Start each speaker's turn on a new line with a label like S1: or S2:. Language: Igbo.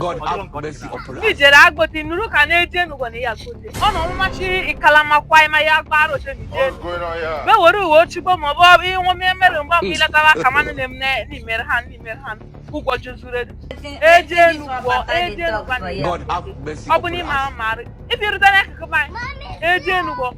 S1: God have mercy upon us. Nijere agboti nuru ka na eje n'ugbo na ya kote. Ọ na ọmụma chi ikalama kwa ima ya gba aro se nije. Be were uwe ochigbo ma ọ bụ ịnwụ m emere mgbe mgbe iletara aka manụ na emne n'imere ha n'imere ha ụgwọ juzure eje n'ugbo eje n'ugbo ọ bụ n'ime ahụ marị ibi rute n'akụkụ anyị eje n'ugbo